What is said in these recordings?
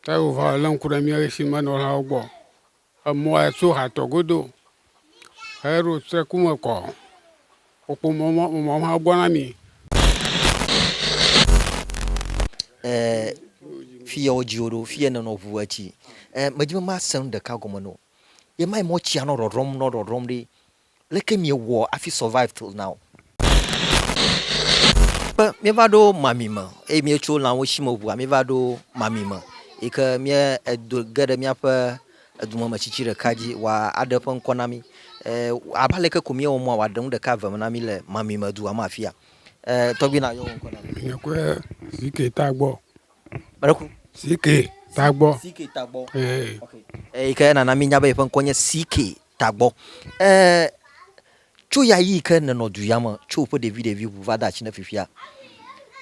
Ke wova lé ŋku ɖe mía si menɔlawo gbɔ. Emɔa tso hatɔ godo heɖo trɔku me kɔ. Woƒo mɔ mɔ emɔ hã gbɔ na mí. E fiye wodzi wò ɖo, fiye nènɔ ŋu etsi. E medi be masẽ nu ɖeka gɔme na wò. Ye ma yi mɔ tsia nɔ ɖɔɖɔm nɔ ɖɔɖɔm ɖi. Leke miewɔ afi survive till now? Ke mieva ɖo mami me eye mietso lãwo si me ŋua mieva ɖo mami me yi ke mie edo ge ɖe miaƒe edome me tsitsi ɖeka dzi wa aɖe ƒe ŋkɔ na mi. E abe aleke ko miewɔ mɔa wa ɖe nu ɖeka vem na mi le mami me dua me afia. E tɔgbi na yɔ wò ŋkɔ na mi. Nye kue CK Tagbɔ. Meɖe ku? CK Tagbɔ. CK Tagbɔ. E. Ok. Eyi ke nana minya be yeƒe ŋkɔ nye CK tagbɔ e tso ya yi ke nenɔ du ya me tso ƒe ɖevi ɖevi ŋu va de atsi ne fifia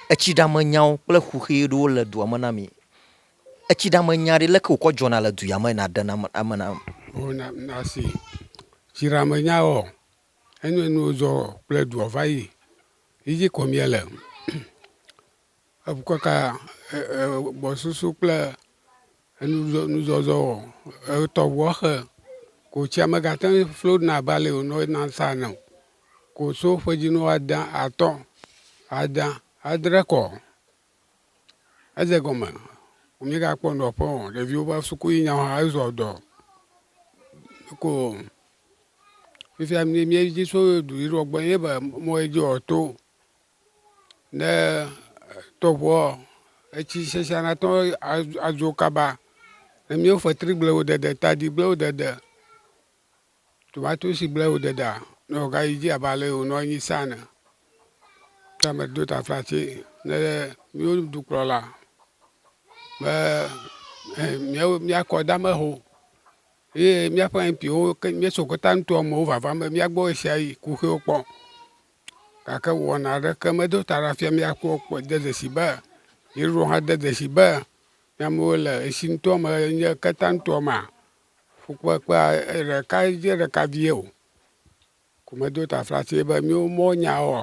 etsi ɖa me nyawo kple xuxi ɖewo le dua me na mi etsi ɖa me nya ɖe leke wokɔ dzɔna le du ya me na ɖe na ame na ame. O na na si tsi ɖa me nya wɔ enye nuwo dzɔ kple dua va yi yi dzi kɔ mia le. Ekaka gbɔsusu kple nuzɔzɔ wɔ etɔ ʋua xe ko tsia megate ŋu flo ɖuna abe ale wònɔ ena sa ene o. Ko so ƒedzinu ada atɔ̃, ada, adre kɔ. Edze egɔme womegakpɔ nɔƒe o. Ɖeviwo va suku yi nyawo hã ezɔ dɔ. Ko fifia míedzi tso duyiɖewo gbɔ ye be mɔ ye dzi wòato Ne tɔʋuɔ, etsi sesẽa nate ŋu adzo kaba. Ne míewo fetrigblẽwo dede, tadigblewo dede, tomatosigblẽwo dedea, ne wògayi dzi abe ale yi wònɔ anyi sa ene. Ke meɖo ta flati ne míwo dukplɔla be míawo míakɔ dama ho ye míaƒe MP-wo ke míeso Kota Ntoame wo vava be míagbɔ ɣeshiaɣi kuxiwo kpɔ. Gake wɔna aɖeke medo ta ɖa fia mía kpɔ kpɔ de dzesi be yeɖo hã de dzesi be ne amewo le esi ŋutɔ me nye keta ŋutɔ mea, fukpekpea ɖeka dze ɖeka vie o. Ko medo taflatse be mía mɔnyawoa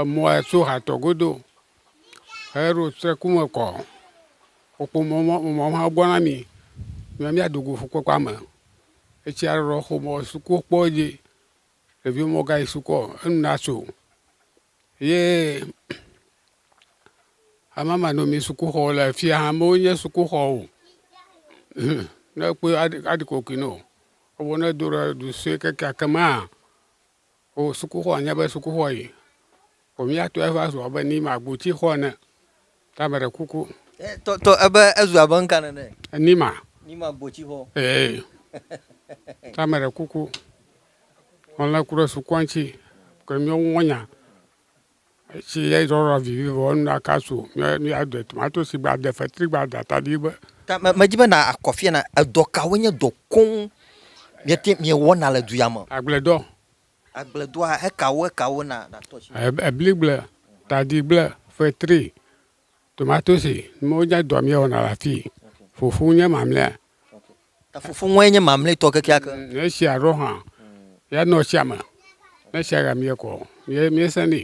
Emɔa tso hatɔ godo heɖo tse ku me kɔ. Wokpɔ mɔ mɔ mɔ hã gbɔ na mì be míado go fukpekpea me. Etsia ɖeɖɔ xɔmɔ suku kpɔ edzi. Ɖevi mɔ gayi sukɔ enu na so ye amamanɔmi sukuxɔ le afi ya hã mewo nye sukuxɔ o. Ne ekpɔe aɖi aɖi kokoe nɛ o. Evɔ ne edo ɖe du sue kekeake mea O sukuxɔ nye be sukuxɔ yi o mi ya tɔe va zu abe ni ma gboti xɔ ene. Ta me ɖe kuku. E tɔ tɔ ebe ezu abe ŋka nene. Ni ma. Ni ma gboti xɔ. Ee. Ta me ɖe kuku. Mɔlɛ ku ɖe sukua ŋtsi. Ke mi wo ŋɔnya. Esi edzɔdzɔ vivivo enu la kasu míaɖe tomatosi gbade, fetri gbade, atadi gbe. Ta medi be nàkɔ afia na. Edɔ kawoe nye dɔ koŋ miete miewɔna le du ya me? Agbledɔ. Agbledɔa, ekawo ekawo na nàtɔ asi me? Ebligble, tadigble, fetri, Tomatosi, wonye dɔ míewɔna le afii. Fufu nye mamlɛa. Ta fufu ŋue nye mamlɛtɔ kekeake. Mm, esia ɖo hã, ya nɔ tsia me. Ne tsia ya míekɔ, mie miesẽnɛ.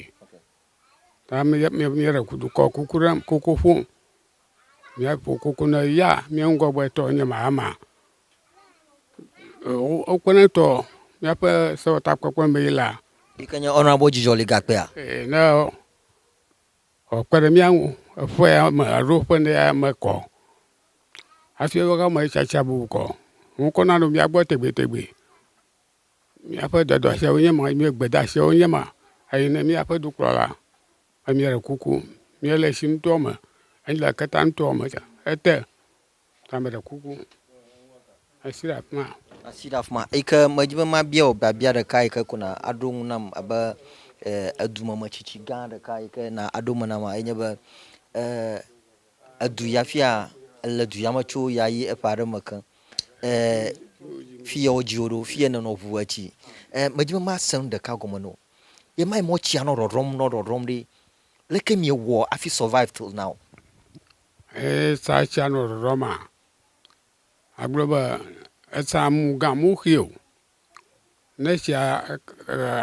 Ta míeɖe dukɔ kuku ɖe kuku ƒom. Míaƒo kuku ne ya mía ŋgɔgbetɔ nye Mahama. Wokpɔnɛ ŋutɔ míaƒe sewɔtakpekpe mee la. Yike nye Honourable Dzidzɔli Gakpea. Ɛ ne. Wòakpe ɖe mía ŋu eƒe ame alo eƒe ne ame kɔ hafi eƒe ame tsatsa bubu kɔ. Ŋkɔ nanɔ mía gbɔ tegbetegbe. Míaƒe dɔdeasiawoe nye ma, míaƒe gbedeasiawoe nye ma. Eyi ne míaƒe dukplɔla be míaɖe kuku míele tsi ŋutɔ me, míele keta ŋutɔ me ete Ta meɖe kuku, esi ɖe afi ma. Asi ɖe afi ma yi ke medi be mabia wò biabia ɖeka yi ke ko na aɖo eŋu nam abe edumemetsitsi gã ɖeka yi ke na aɖo me nam enye eh, be edu ya fia le du ya me tso ya yi eƒe aɖe me ke eh, fi ya wodzi wò ɖo fi ya nenɔ ʋu etsi eh, medi be mase nu ɖeka gɔme nɔ ye ma yi mɔ tsia nɔ ɖɔɖɔm nɔ ɖɔɖɔm ɖi leke miewɔ afi survive till now. Eye sa tsia nɔ ɖɔɖɔ ma agblɔ be esa mu ga mu xi o ne tsia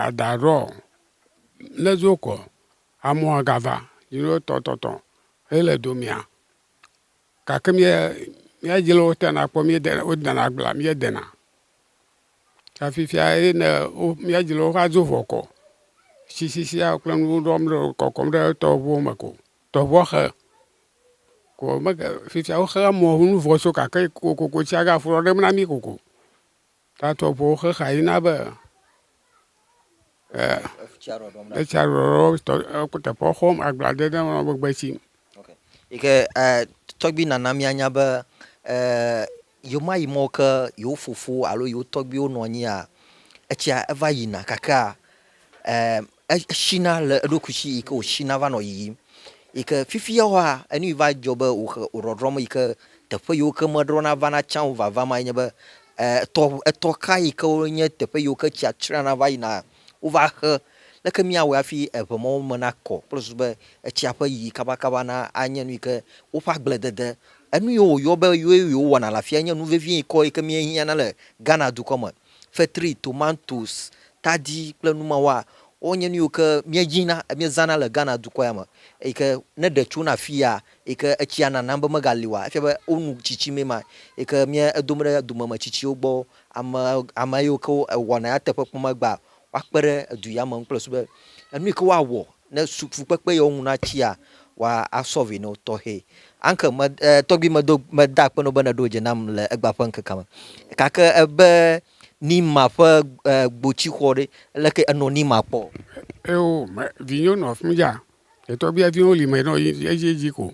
ada ɖɔ ne zo kɔ amu aga va yi ɖo tɔ tɔ tɔ ye le domea gake mía mía dzi le wo te na kpɔ mía de wo de na agblea mía de na ta fifia ye ne wo mía dzi le wo va zo vɔ kɔ sisi sia kple nuwo ɖɔm ɖe kɔkɔm ɖe tɔʋuwo me ko. Tɔʋɔxe, ko mege fifia wo xea mɔ ŋu vɔ so gake kokoko tsia ga ƒlɔ ɖem na mi koko. Ta tɔʋɔwo xe xa yi na be etsia ɖɔɖɔ tɔ eku teƒe xɔm agble ade ɖe nɔnɔme gbe tsi. Yike tɔgbi nana mia nya be Yewomayi mɔ ke yewo fofo alo yewo tɔgbuiwo nɔ anyia? Etsia eva yina kakea, e, eshina le eɖokui si yi ke wòshina va nɔ yiyim. Yi ke fifia woa, enu yi va dzɔ be wòhe wòɖɔɖrɔm yi ke teƒe yiwo ke meɖɔna vana tsã o vava ma ye nye be, e, etɔ, etɔ ka yi ke wonye teƒe yiwo ke tsia tsrena va yina Wova xe. Leke míawɔe hafi eŋe mɔwo me nakɔ kple susu be etsia ƒe yiyi kabakaba na anye nu yi ke woƒe agbledede, enu yi woyɔ be ye wowɔna le afia nye nu vevie ŋkɔ yi ke míehiãna le Ghana dukɔ me. Fetri, tomatoes, tadi kple nu mawoa, wonye nu yiwo ke míenyina, míezãna le Ghana dukɔ ya me eyi ke ne ɖe tsona afia yi ke etsia nanam be megali oa, efia be wonu tsitsi mee ma yi ke mía edom ɖe domeme tsitsiwo gbɔ Ame, ame yiwo ke wɔna nyateƒe kpɔmegbea, woakpe ɖe edu ya me ŋu kple su be enu yi ke woawɔ ne su fukpekpe yi wo ŋu na tsia, woasɔlvi na wo tɔxɛ. Anke me, e, tɔgbui medo, meda akpe na wo be neɖo dze nam le egbea ƒe ŋkekea me. Gake ebe Nima ƒe e, gboti xɔ ɖe, leke enɔ Nima kpɔ? Eo, me, vinyewo nɔ afi mi dza. Etɔgbuiaviwo li me nɔ edzi edzi ko.